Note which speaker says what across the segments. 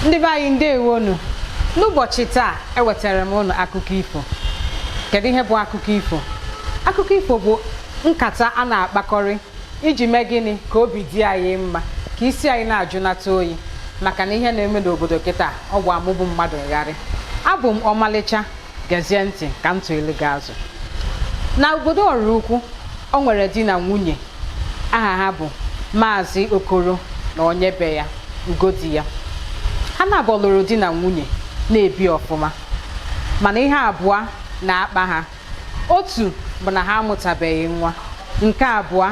Speaker 1: ndị be anyị ndewonu n'ụbọchị taa ewetara m unu akụkọ ifo kedu ihe bụ akụkọ ifo akụkọ ifo bụ nkata a na-akpakọrị iji mee gịnị ka obi dị anyị mma ka isi anyị na-ajụnata oyi maka na ihe na-eme n'obodo kịta ọ gba mụ bụ mmadụ ngharị abụ m ọmalịcha gezie ntị ka m tụelu gị azụ na obodo ọrụ ukwu o nwere di na nwunye aha ha bụ maazị okoro na onye be ya ugodiya ha naabọ lụrụ di na nwunye na-ebi ọfụma mana ihe abụọ na-akpa ha otu bụ na ha amụtabeghị nwa nke abụọ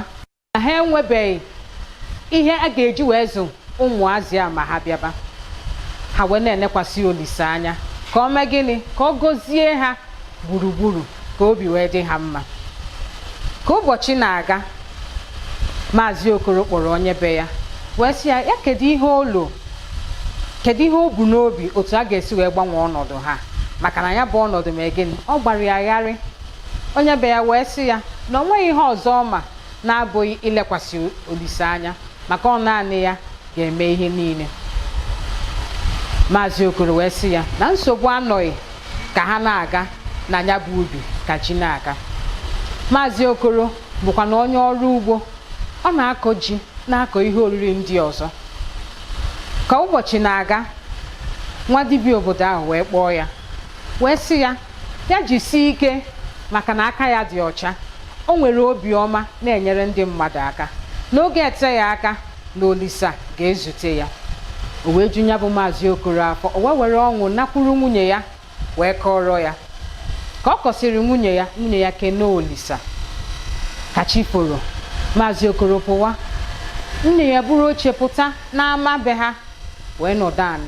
Speaker 1: na ha enwebeghị ihe a ga-eji wee zụ ụmụazị a ma ha bịaba ha wee na-enekwasị olise anya ka o mee gịnị ka ọ gọzie ha gburugburu ka obi wee dị ha mma ka ụbọchị na-aga maazị okoro kpọrọ onye be ya wee sị ya kedu ihe o lo kedu ihe o bu n'obi otu a ga-esi wee gbanwee ọnọdụ ha maka na ya bụ ọnọdụ mee gịnị ọ gbara ya gharị Onye be ya wee sị ya na o nweghị ihe ọzọ ọ ma na-abụghị ilekwasị Olise anya maka ọ naanị ya ga-eme ihe niile. Maazị Okoro wee sị ya na nsogbu anọghị ka ha na-aga na ya bụ ubi ka ji na-aga. Maazị Okoro bụkwa na onye ọrụ ugbo, ọ na-akọ ji na-akọ ihe oriri ndị ọzọ. Ka ụbọchị na-aga, nwa dibịa obodo ahụ wee kpọọ ya wee sị ya ya jisie ike maka na aka ya dị ọcha o nwere obiọma na-enyere ndị mmadụ aka n'oge eteghị aka na olisa ga-ezute ya o wee ju ya bụ maazị okoro afọ o wee were ọṅụ nakwuru nwunye ya wee kọrọ ya ka ọ kọsịrị nwunye ya nwunye ya kene olisa ka chi foro maazị okoro pụwa nwunye ya buru oche pụta n'ama be ha wee nọdụ anị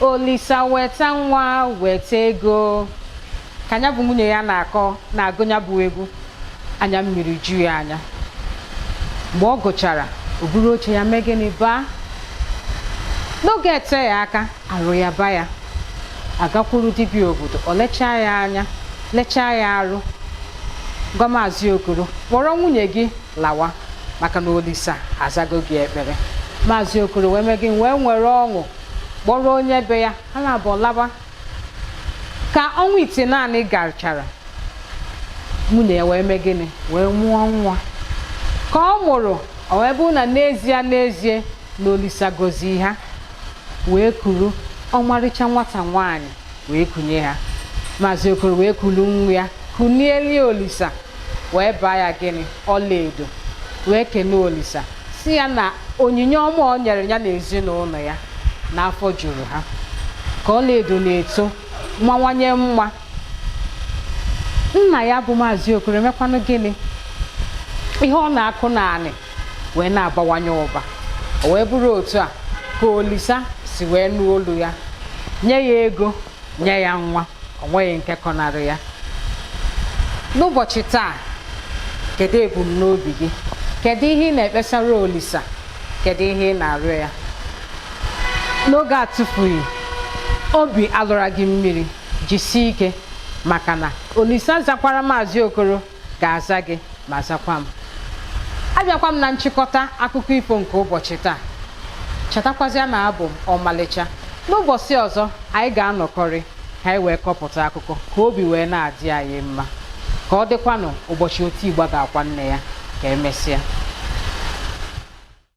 Speaker 1: olisa weta nwa weta ego ka ya bụ nwunye ya na-agụ ya bụ egwu anya mmiri ju ya anya mgbe ọ gụchara o buru oche ya mee gịnị baa n'oge eteghị aka arụ yaba ya a gakwuru dibịa obodo o lechaa ya anya lechaa ya arụ gwa maazị okoro kpọrọ nwunye gị lawa maka na olisa azago gị ekpere maazị okoro wee mee gịnị wee nwere ọṅụ kpọrọ onye be ya ha naabọ laba ka ọnwa itenaanị gachara nwunye ya wee mee gịnị wee mụọ nwa ka ọ mụrụ o wee bụrụ na n'ezie n'ezie na olisa gọzi ha wee kuru ọmarịcha nwata nwaanyị wee kunye ha maazị okoro wee kuru nwa ya kunieli olisa wee baa ya gịnị ọlaedo wee kene olisa si ya na onyinye ọma o nyere ya na ezinụlọ ya na afọ juru ha ka ọlaedo na-eto mawanye mma nna ya bụ maazị okoro emekwanụ gịnị ihe ọ na-akụ n'anị wee na-abawanye ụba o wee bụrụ otu a ka olisa si wee nụ olu ya nye ya ego nye ya nwa o nweghị nke kọnarị ya n'ụbọchị taa kedu ebumnobi gị kedu ihe ị na-ekpesara olisa kedu ihe ị na-arịọ ya n'oge atụfughị obi alọla gị mmiri jisie ike maka na olisa zakwara maazị okoro ga-aza gị ma zakwa m abịakwa m na nchịkọta akụkọ ifo nke ụbọchị taa chetakwazịa na abụ m ọmalịcha n'ụbọchị ọzọ anyị ga-anọkọrị ka anyị wee kọpụta akụkọ ka obi wee na-adị anyị mma ka ọ dịkwanụ ụbọchị oti ịgba ga-akwa nne ya ka emesịa